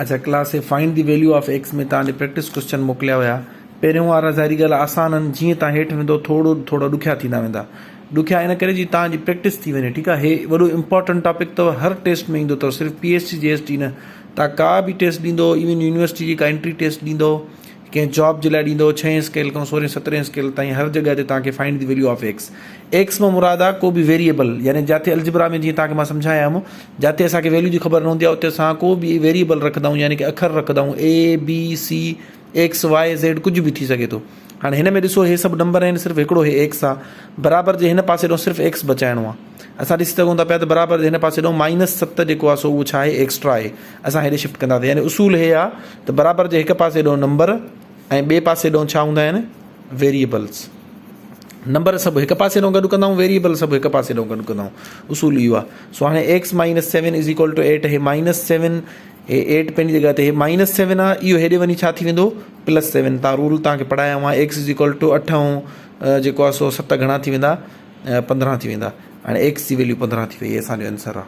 اچا class a find the value of x ۾ توهان ڏي پريڪٽس ڪويسچن موڪليا هيا پهريون وارا ظاهري ڳالهه آسان آهن جيئن توهان هيٺ ويندو ٿورو ٿورا ڏکيا ٿيندا ويندا ڏکيا ان ڪري جي توهان جي پريڪٽس ٿي وڃي ٺيڪ آهي هي وڏو امپورٽنٽ ٽاپڪ اٿو هر ٽيسٽ ۾ ايندو اٿو صرف P S T G S T نه توهان ڪا به ٽيسٽ ڏيندو ايون يونيورسٽي جي ڪا انٽري ٽيسٽ ڏيندو ڪنهن جاب جي لاء ڏيندو ڇهين اسڪيل کان سورهين سترهين اسڪيل تائين هر جڳهه تي توهان کي find the value of x x مان مراد آهي ڪو به ويريئبل يعني جاتي الجبرا ۾ جيئن توهان کي مان سمجهايا هيم جاتي اسان کي ويليو جي خبر نه هوندي آهي اتي اسان ڪو به ويريئبل رکندا آهيون يعني ڪي اکر رکندا آهيون A B C X Y Z ڪجهه به ٿي سگهي ٿو هاڻي هن ۾ ڏسو هي سڀ نمبر آهن صرف هڪڙو هي ايڪس آهي برابر جي هن پاسي ڏانهن صرف ايڪس بچائڻو آهي اسان ڏسي سگهون ٿا پيا ته برابر جي هن پاسي ڏانهن مائنس ست جيڪو آهي سو اهو ڇا آهي ايڪسٽرا آهي اسان هيڏي شفٽ ڪنداسين يعني اصول هي آ ته برابر جي هڪ پاسي ڏون نمبر ۽ ٻي پاسي ڏون ڇا هوندا آهن ويريبلز نمبر سڀ هڪ پاسي ڏون گڏ ڪندا آهيون ويريبل سڀ هڪ پاسي ڏون گڏ ڪندا آهيون اصول اهو آهي سو هاڻي x minus seven is equal to eight هي مائنس سيون هي ايٽ پنج جگہ تي هي مائنس سيون آ اهو هيڏي وڃي ڇا ٿي ويندو پلس سيون تان رول تان کي پڙهايا هوا ايڪس از ايڪول ٽو اٺ ۽ جيڪو آ سو ست گهڻا ٿي ويندا پندرهن ٿي ويندا هاڻي ايڪس جي ويليو پندرهن ٿي وئي اسان جو آنسر آ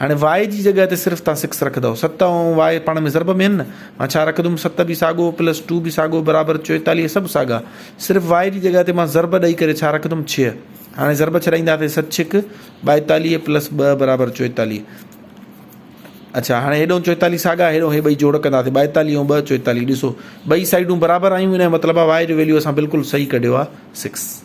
هاڻي واء جي جڳهه تي صرف توهان سڪس رکندؤ. ست ۽ واء پاڻ ۾ ضرب ۾ آهن نه. مان ڇا رکندم ست به ساڳو پلس ٽو به ساڳو برابر چوئيتاليهه سڀ ساڳا. صرف واء جي جڳهه تي مان ضرب ڏئي ڪري ڇا رکندم ڇهه. هاڻي ضرب ڇڏائينداسين ست ڇهڪ ٻائيتاليهه پلس ٻه برابر چوئيتاليهه. اڇا هاڻي هيڏانهن چوئيتاليهه ساڳا هيڏانهن هي ٻئي جوڙ ڪنداسين ٻائيتاليهه ۽ ٻه چوئيتاليهه ڏسو ٻئي سائيڊون برابر آيون ان جو مطلب آهي واء جو ويليو اسان بلڪل صحيح ڪڍيو آهي سڪس.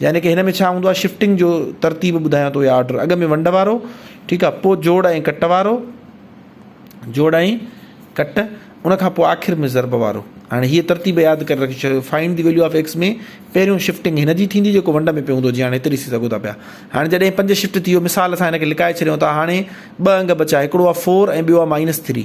يعني ڪه هن ۾ ڇا هوندو آهي شفٽنگ جو ترتيب ٻڌايان ٿو يا آرڊر اڳ ۾ ونڊ وارو ٺيڪ آهي پوء جوڙ ۽ ڪٽ وارو جوڙ ۽ ڪٽ ان کان پوء آخر ۾ ضرب وارو هاڻي هي ترتيب ياد ڪري رکي ڇڏيو find the value of x ۾ پهريون شفٽنگ هن جي ٿيندي جيڪو ونڊ ۾ پيو هوندو جي هاڻي هتي ڏسي سگهو ٿا پيا هاڻي جڏهن پنج شفٽ ٿي ويو مثال اسان هن کي لڪائي ڇڏيو ته هاڻي ٻه انگ بچا هڪڙو آهي فور ۽ ٻيو آهي مائنس ٿري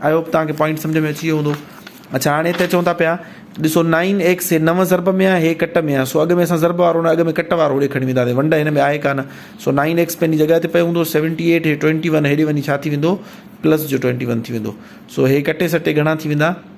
آئي هوپ توهان کي پوائنٽ سمجهه ۾ اچي ويو هوندو اچھا هاڻي هتي چون ٿا پيا ڏسو نائن ايڪس هي نو ضرب ۾ آهي هي ڪٽ ۾ آهي سو اڳ ۾ اسان ضرب وارو نه اڳ ۾ ڪٽ وارو ڏي کڻي وينداسي ونڊ هن ۾ آهي ڪانه سو نائن ايڪس پنهنجي جڳهه تي پيو هوندو سيونٽي ايٽ هي ٽوينٽي ون هيڏي وڃي ڇا ٿي ويندو پلس جو ٽوينٽي ون ٿي ويندو سو هي ڪٽي سٽي گهڻا ٿي ويندا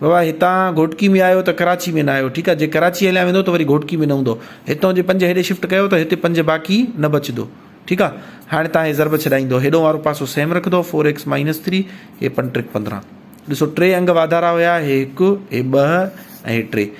بابا هتان گهوٽڪي ۾ آيو ته ڪراچي ۾ نه آيو ٺيڪ آ جي ڪراچي هليا ويندو ته وري گهوٽڪي ۾ نه هوندو هتان جي پنج هيڏي شفٽ ڪيو ته هتي پنج باقي نه بچدو ٺيڪ آ هاڻي تان هي ضرب ڇڏائيندو هيڏون وارو پاسو سيم رکدو فور ايڪس مائنس ٿري هي پنج ٽريڪ پندرهن ڏسو ٽي انگ واڌارا هيا هي هڪ هي ٻه ۽ هي ٽي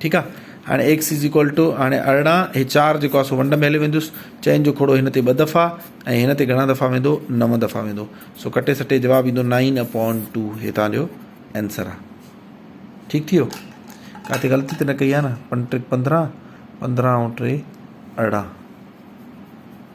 ٺيڪ آ هاڻي ايڪس از ايڪول ٽو هاڻي ارڙهن هي چار جيڪو آ سو ونڊ ۾ هلي ويندس چئن جو کوڙو هن تي ٻه دفعا ۽ هن تي گهڻا دفعا ويندو نو دفعا ويندو سو ڪٽي سٽي جواب ايندو نائن اپون ٽو هي تان جو آنسر آ ٺيڪ ٿي ويو ڪاتي غلطي ته نه ڪئي آ نه پنج ٽريڪ پندرهن پندرهن ۽ ٽي ارڙهن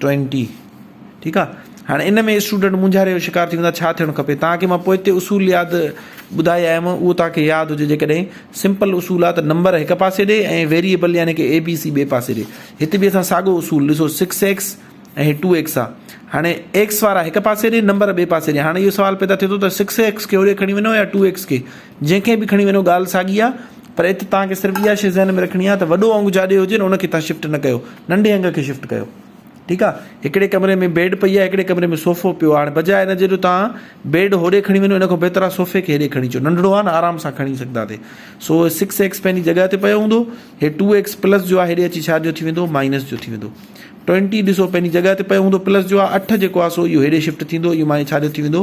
ٽوئنٽي ٺيڪ آ هاڻي ان ۾ اسٽوڊنٽ مونجهاري جو شڪار ٿي ويندا ڇا ٿيڻ کپي تان کي مان پوئتي اصول ياد ٻڌائي آيم اهو تان کي ياد هجي جيڪڏهن سمپل اصول آ ته نمبر هڪ پاسي ڏي ۽ ويريبل يعني ڪي اي بي سي ٻي پاسي ڏي هت به اسان ساڳو اصول ڏسو سڪس ايڪس ۽ هي ٽو ايڪس آ هاڻي ايڪس وارا هڪ پاسي ڏي نمبر ٻي پاسي ڏي هاڻي اهو سوال پيدا ٿي ٿو ته سڪس ايڪس کي هوڏي کڻي وڃو يا ٽو ايڪس کي جنهن کي به کڻي وڃو ڳالهه ساڳي آ پر ات توهان کي صرف اها شي ذهن ۾ رکڻي آ ته وڏو انگ جاڏي هجي نه ان کي توهان شفٽ نه ڪيو ننڍي انگ کي شفٽ ڪيو ٺيڪ آ هڪڙي ڪمري ۾ بيڊ پئي آ هڪڙي ڪمري ۾ صوفو پيو آ هاڻي بجاء ان جي جو توهان بيڊ هوڏي کڻي وڃو ان کان بهتر آ صوفي کي هيڏي کڻي اچو ننڍڙو آ نه آرام سان کڻي سگهندا تي سو سڪس ايڪس پنهنجي جڳهه تي پيو هوندو هي ٽو ايڪس پلس جو آ هيڏي اچي ڇا جو ٿي ويندو مائنس جو ٿي ويندو ٽوئنٽي ڏسو پنهنجي جڳهه تي پيو هوندو پلس جو آ اٺ جيڪو آ سو اهو هيڏي شفٽ ٿيندو اهو مائنس ڇا جو ٿي ويندو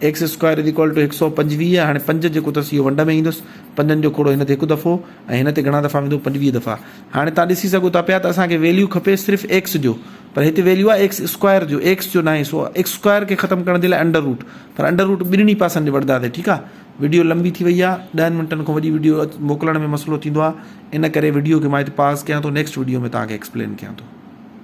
x square is equal to هڪ سؤ پنجويهه هاڻي پنج جيڪو اٿس اهو ونڊ ۾ ايندس پنجن جو کوڙو هن تي هڪ دفعو ۽ هن تي گهڻا دفعا ويندو پنجويهه دفعا هاڻي توهان ڏسي سگهو ٿا پيا ته اسان کي ويليو کپي صرف ايڪس جو پر هتي ويليو آهي ايڪس اسڪوائر جو ايڪس جو ناهي سو ايڪس اسڪوائر کي ختم ڪرڻ جي لاء انڊر روٽ پر انڊر روٽ ٻنهي پاسن ڏي وٺنداسين ٺيڪ آهي وڊيو لنبي ٿي وئي آهي ڏهن منٽن کان وڏي وڊيو موڪلڻ ۾ مسئلو ٿيندو آهي ان ڪري وڊيو کي مان هتي پاز ڪيان ٿو نيڪسٽ وڊيو ۾ توهان کي ايڪسپلين ڪيان ٿو